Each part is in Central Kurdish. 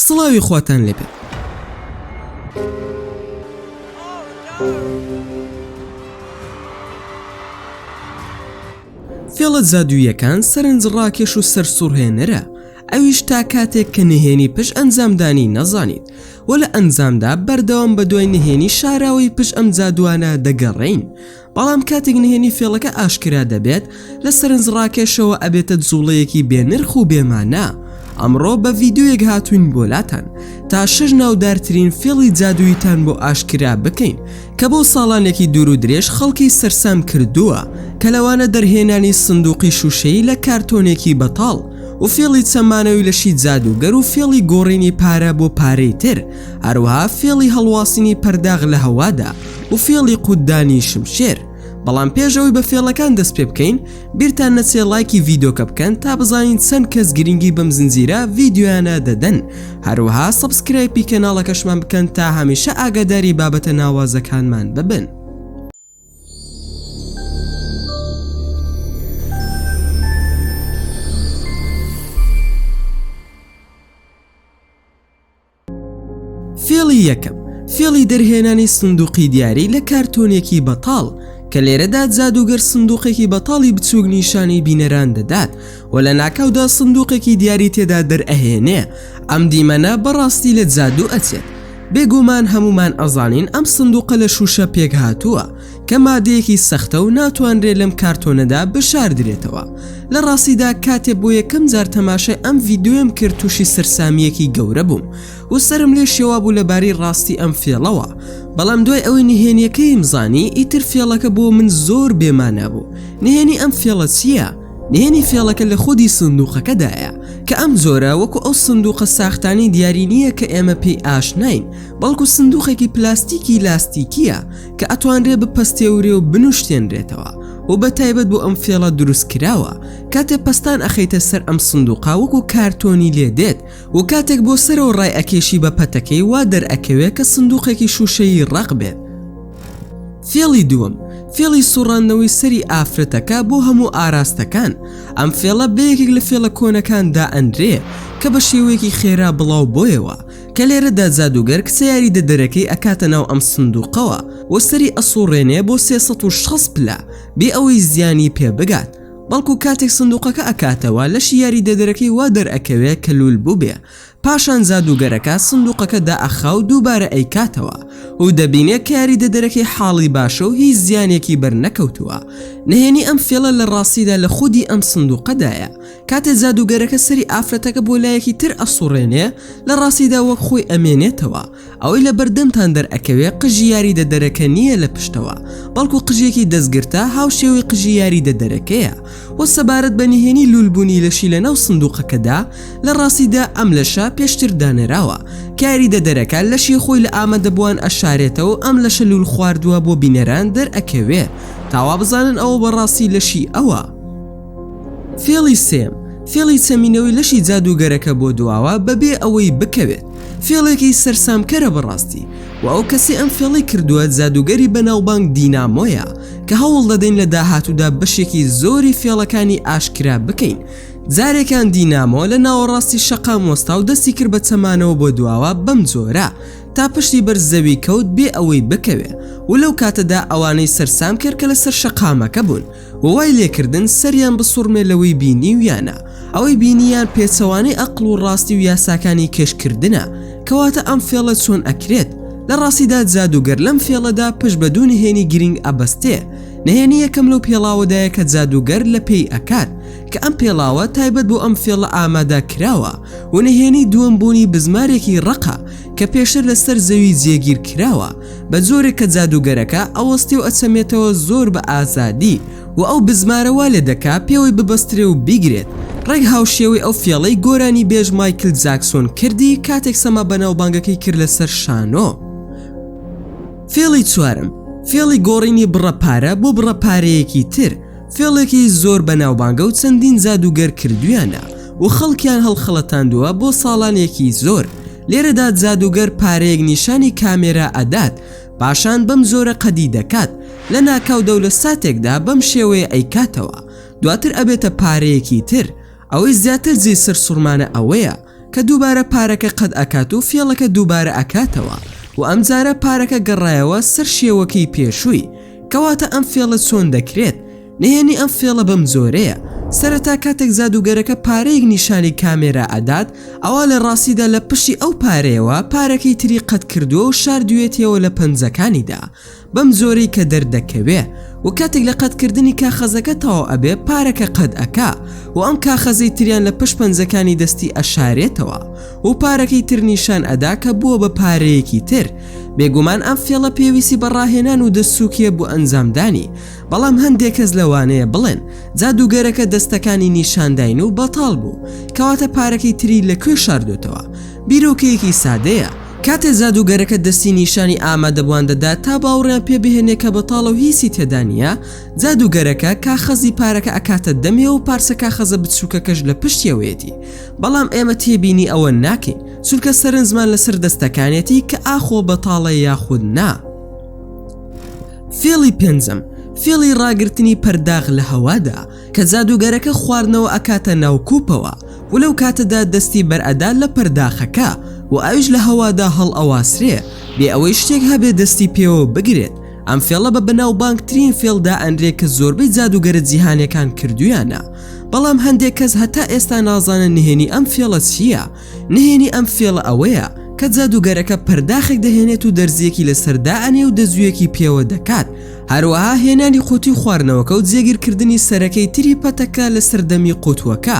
سڵاوی خواتان لێبێت. فێڵە جادوویەکان سەرنج ڕاکێش و سەرسوڕهێنەرە ئەویش تا کاتێک کە نهێنی پش ئەنجامدانی نەزانیت و لە ئەنجامدا بەردەوام بە دوای نهێنی شاراوەی پش ئەم جادوانە دەگەڕین بەڵام کاتێک نهێنی فێڵەکە ئاشکرا دەبێت لە سەرنجڕاکێشەوە ئەبێتە جوڵەیەکی بێنرخ و بێمانە ئەمڕۆ بە ڤیددیوێک هاتوین بۆلاتان تا شش ناودارترین فێڵی جادوویتان بۆ ئاشکرا بکەین کە بۆ ساڵانێکی دوور و درێژ خەڵکی سەرسام کردووە کە لەوانە دەرهێنانی سندوقی شوشەی لە کارتۆنێکی بەتاڵ و فێڵی چەمانەوەی لەشی جادوگەر و فێڵی گۆڕینی پارە بۆ پارەی تر هەروەها فێڵی هەڵواسینی پەرداغ لە هەوادا و فێڵی قوت دانی شمشێر بەڵام پێش ئەوی بە فێڵەکان دەست پێ بکەین بیرتان نەچێ لایکی ڤیدۆکە بکەن تا بزانین چەند کەس گرنگی بەم زنجیرە ڤیددیویانە دەدەن هەروەها سەبسکرایپی کەناڵەکەشمان بکەن تا هەمیشە ئاگاداری بابەتە ناوازەکانمان ببن. فێڵی یەکەم، فێڵی دەرهێنانی سندوقی دیاری لە کارتۆنێکی بەتاڵ، کە لێرەدا جادووگەر سندوقێکی بەتاڵی بچووک نیشانی بینەران دەدات و لە ناکاودا سندوقێکی دیاری تێدا دەرئەهێنێ، ئەم دیمەنە بەڕاستی لە جادوو ئەچێت، بێگوومان هەموومان ئەزانین ئەم سندوقە لە شووشە پێکهاتووە، کە مادەیەکی سەختە و ناتوانرێت لەم کارتۆنەدا بشاردرێتەوە لە ڕاستیدا کاتێ بۆ یەکەم جار تەماشای ئەم ڤیددیوێم کرد تووشی سەررسامیەکی گەورە بووم و سرم لێ شێوا بوو لەبارەی ڕاستی ئەم فێڵەوە بەڵام دوای ئەوەی نهێنیەکەیم زانی ئیتر فێڵەکە بۆ من زۆر بێمانا بوو نهێنی ئەم فێڵە چییە؟ نهێنی فێڵەکە لە خودی سندوقەکەدایە کە ئەم جۆرە وەکو ئەو سندوقە ساختانی دیاری نییە کە ئێمە پێی ئاشناین بەڵکو سندوقێکی پلاستیکی لاستیکیە کە ئەتوانرێ بپەستێورێ و بنوشتێنرێتەوە و بە تایبەت بۆ ئەم فێڵە دروست کراوە کاتێ پستان ئەخەیتە سەر ئەم سندوقا وەکو کارتۆنی لێ دێت و کاتێک بۆ سەرەوە ڕای ئەکێشی بە پەتەکەی وا دەرئەکەوێت کە سندوقێکی شوشەیی ڕق بێت فێڵی دووەم فێڵی سوڕاندنەوەی سەری ئافرەتەکە بۆ هەموو ئاراستەکان ئەم فێڵە بەیەکێک لە فێڵە کۆنەکاندا ئەندرێ کە بە شێوەیەکی خێرا بڵاو بۆیەوە کە لێرەدا جادووگەر کچە یاریدەدەرەکەی ئەکاتە ناو ئەم سندوقەوە و سەری ئەسوڕێنێ بۆ 360 پلە بێ ئەوەی زیانی پێ بگات بەڵکو کاتێک سندوقەکە ئەکاتەوە لەشی یاریدەدەرەکەی وا دەرئەکەوێ کە لول بووبێ پاشان جادووگەرەکە سندوقەکە دائەخا و دووبارە ئەیکاتەوە و دەبینێ کە یاریدەدەرەکەی حاڵی باشە و هیچ زیانێکی بەرنەکەوتووە نهێنی ئەم فێڵە لە ڕاستیدا لە خودی ئەم سندوقەدایە کاتێ جادووگەرەکە سەری ئافرەتەکە بۆ لایەکی تر ئەسوڕێنێ لە ڕاستیدا وەک خۆی ئەمێنێتەوە ئەوەی لە بەردەمتان دەرئەکەوێ قژی یاری دەدەرەکە نییە لە پشتەوە بەڵکو قژێکی دەستگرتە هاوشێوەی قژی یاری دەدەرەکەیە وە سەبارەت بە نهێنی لولبوونی لەشی لە ناو سندوقەکەدا لە ڕاستیدا ئەم لەشە پێشتر دانراوە کاری دەدەرەکە لەشی خۆی لە ئامەدەبووان ئەشارێتەوە ئەم لەشە لول خواردووە بۆ بینەران دەرئەکەوێ تاوا بزانن ئەوە بەڕاستی لەشی ئەوە. فێڵی سێم، فێڵی چەمینەوەی لەشی جادووگەرەکە بۆ دواوە بەبێ ئەوەی بکەوێت، فێڵێکی سەرسامکەرە بەڕاستی، و ئەو کەسەی ئەم فێڵەی کردووە جادووگەری بەناوبانگ دینامۆیە، کە هەوڵدەدەین لە داهاتوودا بەشێکی زۆری فێڵەکانی ئاشکرا بکەین، جارێکیان دینامۆ لە ناوەڕاستی شەقام وەستا و دەستی کرد بە چەمانەوە بۆ دواوە بەم جۆرە تا پشتی بەر زەوی کەوت بێ ئەوەی بکەوێ و لەو کاتەدا ئەوانەی سەرسامکەر کە لەسەر شەقامەکە بوون و وای لێکردن سەریان بسوڕمێ لەوەی بینیویانە، ئەوەی بینیان پێچەوانەی ئەقڵ و ڕاستی و یاساکانی کێشکردنە، کەواتە ئەم فێڵە چۆن ئەکرێت؟ لە ڕاستیدا جادووگەر لەم فێڵەدا پشت بە دوو نهێنی گرینگ ئەبەستێ، نهێنی یەکەم لەو پێڵاوەدایە کە جادووگەر لە پێی ئەکات کە ئەم پێڵاوە تایبەت بۆ ئەم فێڵە ئامادە کراوە و نهێنی دووەم بوونی بزمارێکی ڕەقە کە پێشتر لە سەر زەوی جێگیر کراوە بە جۆرێک کە جادووگەرەکە ئەوەستێ و ئەچەمێتەوە زۆر بە ئازادی و ئەو بزمارە وا لێ دەکا پێوەی ببەسترێ و بیگرێت، ڕێک هاوشێوەی ئەو فێڵەی گۆرانیبێژ مایکل جاکسۆن کردی کاتێک سەما بەناوبانگەکەی کرد لەسەر شانۆ. فێڵی چوارەم، فێڵی گۆڕینی بڕە پارە بۆ بڕە پارەیەکی تر، فێڵێکی زۆر بەناوبانگە و چەندین جادووگەر کردوویانە و خەڵکیان هەڵخەڵەتاندووە بۆ ساڵانێکی زۆر، لێرەدا جادووگەر پارەیەک نیشانی کامێرا ئەدات پاشان بەم جۆرە قەدی دەکات لە ناکاو دەولە ساتێکدا بەم شێوەیە ئەیکاتەوە دواتر ئەبێتە پارەیەکی تر ئەوەی زیاتر جێی سەرسوڕمانە ئەوەیە کە دووبارە پارەکە قەد ئەکات و فێڵەکە دووبارە ئەکاتەوە و ئەمجارە پارەکە گەڕایەوە سەر شێوەکەی پێشووی کەواتە ئەم فێڵە چۆن دەکرێت نهێنی ئەم فێڵە بەم جۆرەیە، سەرەتا کاتێک جادووگەرەکە پارەیەک نیشانی کامێرا ئەدات، ئەوا لە ڕاستیدا لە پشتی ئەو پارەیەوە پارەکەی تری قەت کردووە و شاردوویەتیەوە لە پەنجەکانیدا بەم جۆرەی کە دەردەکەوێ و کاتێک لە قەت کردنی کاخەزەکە تەواو ئەبێ پارەکە قەت ئەکا و ئەم کاخەزەی تریان لە پشت پەنجەکانی دەستی ئەشارێتەوە و پارەکەی تر نیشان ئەدا کە بووە بە پارەیەکی تر بێگومان ئەم فێڵە پێویستی بە ڕاهێنان و دەست سووکیە بۆ ئەنجامدانی بەڵام هەندێک کەس لەوانەیە بڵێن جادووگەرەکە دەستەکانی نیشانداین و بەتاڵ بوو کەواتە پارەکەی تری لە کوێ شاردۆتەوە بیرۆکەیەکی سادەیە کاتێ جادووگەرەکە دەستی نیشانی ئامادەبوان دەدات تا باوڕیان پێ بهێنێ کە بەتاڵە و هیچی تێدا نییە جادووگەرەکە کاخەزی پارەکە ئەکاتە دەمێ و پارچە کاخەزە بچووکەکەش لە پشتیەوەیەتی بەڵام ئێمە تێبینی ئەوە ناکەین چونکە سەرنجمان لەسەر دەستەکانێتی کە ئاخۆ بەتاڵە یاخود نا. فێڵی پێنجەم فێڵی ڕاگررتنی پەرداغ لە هەوادا کە جادوگەرەکە خواردنەوە ئەکاتە ناوکوپەوە و لەو کاتەدا دەستی بەرئەدا لە پەرداخەکە و ئەوش لە هەوادا هەڵ ئەواسرێ بێ ئەوەی شتێک هەبێ دەستی پێوە بگرێت ئەم فێڵە بە بەناوبانگترین فێڵدا ئەنرێ کە زۆربەی جادوگەرە جیهانەکان کردویانە بەڵام هەندێک کەس هەتا ئێستا نازانە نهێنی ئەم فێڵە چییە نهێنی ئەم فێڵە ئەوەیە کە جادووگەرەکە پەرداخێک دەهێنێت و دەرزییەکی لەسەر دائەنێ و دەزوویەکی پێوە دەکات هەروەها هێنانی قوتی خواردنەوەکە و جێگیرکردنی سەرەکەی تری پەتەکە لە سەردەمی قوتوەکە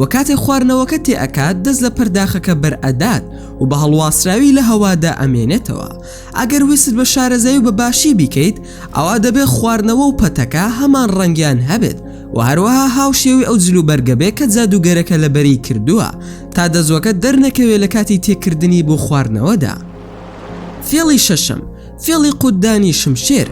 و کاتێ خواردنەوەکە تێئەکات دەست لە پەرداخەکە بەرئەدات و بە هەڵواسراوی لە هەوادا ئەمێنێتەوە ئەگەر ویست بە شارەزایی و بە باشی بیکەیت ئەوا دەبێت خواردنەوە و پەتەکە هەمان ڕەنگیان هەبێت و هەروەها هاوشێوەی ئەو جل و بەرگە بێ کە جادووگەرەکە لەبەری کردووە تا دەزووەکە دەرنەکەوێت لە کاتی تێکردنی بۆ خواردنەوەدا فێڵی شەشەم فێڵی قوتدانی شمشێر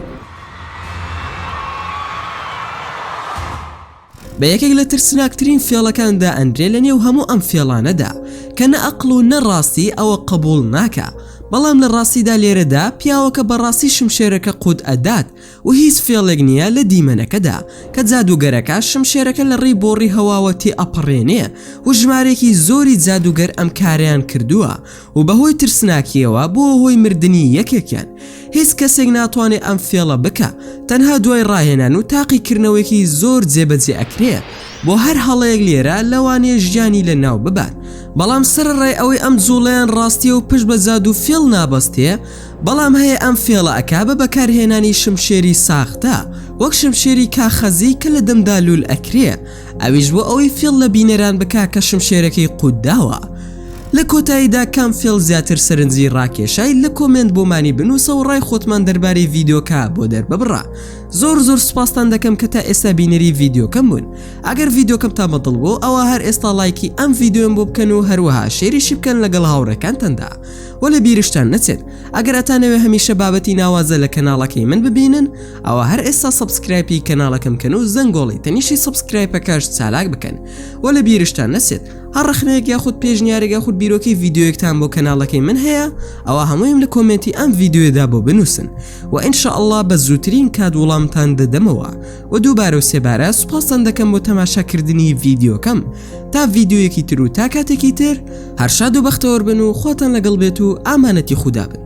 بە یەکێک لە ترسناکترین فێڵەکاندا ئەندرێ لە نێو هەموو ئەم فێڵانەدا کە نە ئەقل و نەڕاستی ئەوە قبول ناکە بەڵام لە ڕاستیدا لێرەدا پیاوەکە بەڕاستی شمشێرەکە قووت ئەدات و هیچ فێڵێک نیە لە دیمەنەکەدا کە جادووگەرەکە شمشێرەکە لە ڕێی بۆڕی هەواوە تێئەپەڕێنێ و ژمارەیەکی زۆری جادووگەر ئەم کارەیان کردووە و بەهۆی ترسناکیەوە بووە هۆی مردنی یەکێکیان هیچ کەسێک ناتوانێ ئەم فێڵە بکا تەنها دوای ڕاهێنان و تاقیکردنەوەیەکی زۆر جێبەجێ ئەکرێ بۆ هەر هەڵەیەک لێرە لەوانەیە ژیانی لە ناو ببات بەڵام سەرەڕای ئەوەی ئەم جوڵەیان ڕاستیە و پشت بە جادوو فێڵ نابەستێ بەڵام هەیە ئەم فێڵە ئەکا بە بەکارهێنانی شمشێری ساختە وەک شمشێری کاخەزی کە لە دەمدا لول ئەکرێ ئەویش بۆ ئەوەی فێڵ لە بینەران بکا کە شمشێرەکەی قوت داوە لە کۆتاییدا کام فێڵ زیاتر سەرنجی ڕاکێشای لە کۆمێنت بۆمانی بنووسە و ڕای خۆتمان دەربارەی ڤیدیۆکە بۆ دەرببڕە زۆر زۆر سوپاستان دەکەم کە تا ئێستا بینەری ڤیدیۆکەم بوون ئەگەر ڤیدیۆکەمتان بەدڵ بۆ ئەوە هەر ئێستا لایکی ئەم ڤیددیۆم بۆ بکەن و هەروەها شێریشی بکەن لەگەڵ هاوڕێکانتاندا بۆ لە بیرشتان نەچێت ئەگەر ئەتانەوێ هەمیشە بابەتی ناوازە لە کەناڵەکەی من ببینن ئەوە هەر ئێستا سبسکرایپی کەناڵەکەم کەن و زەنگۆڵی تەنیشی سبسکرایپەکەش چالاک بکەن و لە بیرشتان نەچێت هەر ڕخنەیەک یاخود پێشنیارێکە خود بیرۆکی یددیوەکتان بۆ کەناڵەکەی من هەیە ئەوە هەموویم لە کۆمنتی ئەم یددیوێدا بۆ بنووسن و ئینشاء الله بە زووترین کات وڵامتان دەدەمەوە و دووبارە و سێبارە سوپاستان دەکەم بۆ تەماشاکردنی یددیوەکەم تا ڤیدیۆیەکی تر و تا کاتێکی تر هەر شاد و بەختەوەر بن و خواتان لەگەڵ بێت و ئامانەتی خودا بن